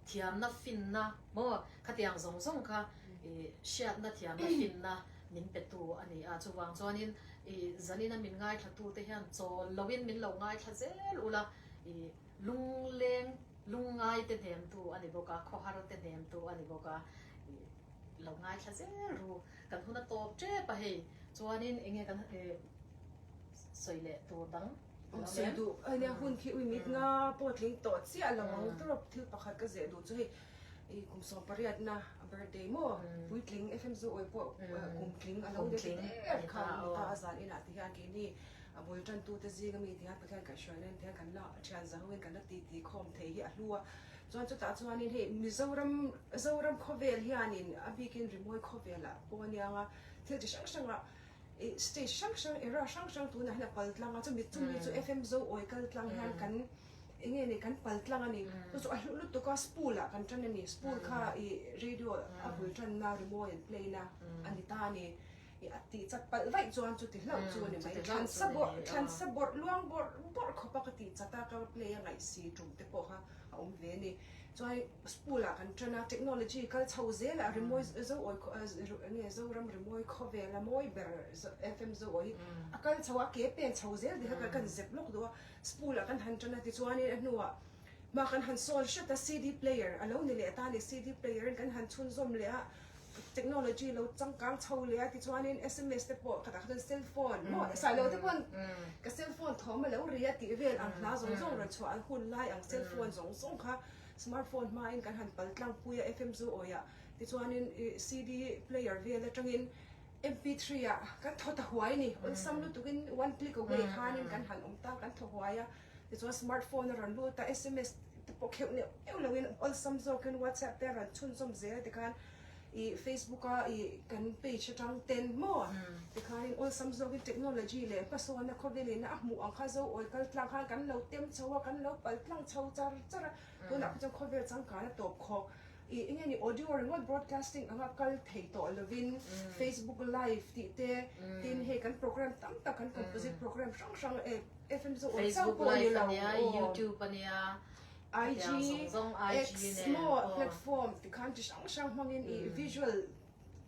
thiamna finna maw khatiang zawng zawng kha i hriatna thiamna finna min pe tu ani a chuvang chuan in i zan in a min ngaithla tu te hian chawl lo in min lo ngaithla zel ula i lungleng Lungngai te hnem tu a ni bawk a, khawhar te hnem tu a ni bawk a, i lo ngaithla zel ru. Kan hun a tawp tep a hei, chuanin enge kan sawi leh tur dang a lo lem. Sawi duh, hun khi ui mit nga pawh tling tawh chiah lo ang tawrap thil pakhat ka zeh duh chu hei, i kum sawm pariatna a birthday maw, puitling fmzuawi pawh kum tling a lo de ti der kha a ni ta, a zan inah ti hian keini. A bul tantute zinga mi tihian Pathian kaihhruaina in tihian kan lak a thian za ho in kan la titi khawm thei hi a hlu a. Chuan chutah chuanin hei Mizoram Zoram khawvel hianin a bikin Rimawi khawvela pawh a niang a, thil chi hrang hranga i stage hrang hrang era hrang hrang tunah hian a pal tlang a, chumi chumi chu FM Zo awi kal tlang hian kan eng nge ni kan pal tlang a ni. Chu chu a hluh lutuk a spool ah kan tan a ni, spool kha i radio a bul tanna Rimawi an play na a ni ta a ni. I a tih chat palh vaih chuan chuti hlauh chu a ni mai. Thlansa bawrh, thlansa bawrh luang bawrh bawrh khawpa ka tih chat a, ka play a ngaih si tum te pawh kha a awm ve a ni. Chuan school ah kan tan a, technology kal chho zel a, rimawi zo awi khaw a, nge Zoram rimawi khawvel a mawi ber FM zo awi a kal chho a, a ke pen chho zel te kha kan zep lawk duh a, school ah kan han tan a tichuan in a hnuah Mah kan han sawl hret a CD player alo ni leh ta ni CD player in kan han chhun zawm leh a technology lo changkang chho leh a tichuanin sms te pawh khatah khatin cell phone maw esai lo te pawh ka cell phone thawm alo ri a tih vel ang hla zawng zawng rawn chhuah an hun lai ang cell phone zawng zawng kha smart phone hma in kan han pal tlang pui a FM zu awih a tichuanin i CD player vel atangin MP three ah kan thaw ta huai a ni awlsam lutuk in one click away khanin kan han awm tang kan thaw huai a. Tichuan smart phone a rawn lut a, sms te pawh kheuh neuh neuh lo in awlsam zawk in whatsapp te a rawn chhunzawm zel ti khan i facebook a i kan page atang ten maw tikhan in awlsam zawk in technology leh hmasawnna khawvel in a hmuh ang kha zo awi kal tlang khan kan lo tem chho a kan lo pal tlang chho char char a tunah kha chuan khawvel changkan a tawp khawh i enge ni audio ringawt broadcasting anga kal thei tawh lo in facebook live tih te tin hei kan program tam tak kan composite program hrang hrang e Facebook live a nia YouTube a nia IG zong zong IG nen aw platform ti khan chi hrang hrang hmang in i visual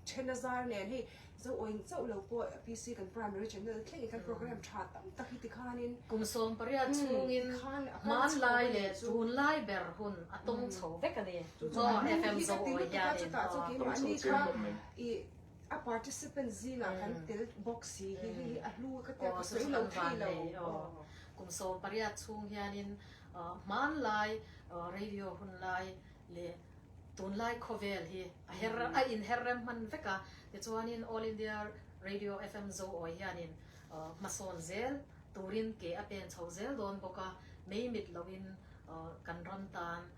then a zar nen hei zo awi chauh lo pawh a PC kan primary channel thleng in kan program tha tam tak hi ti khan in kum sawm pariat chung in khan man lai le tun lai ber hun a tawng chho vek a ni aw FM zo awi hian in aw A participant zingah kan tel bawk si hi hei hi a hlu ka tel ka sawi lo thei lo. Kum sawm pariat chhung hianin hmanlai radio hun lai leh tunlai khawvel hi a her rem a in her rem hman vek a, tichuanin All India Radio FM Zoawi hianin hmasawn zel turin ke a peng chho zel dawn bawk a, mei mit loin kan ram tan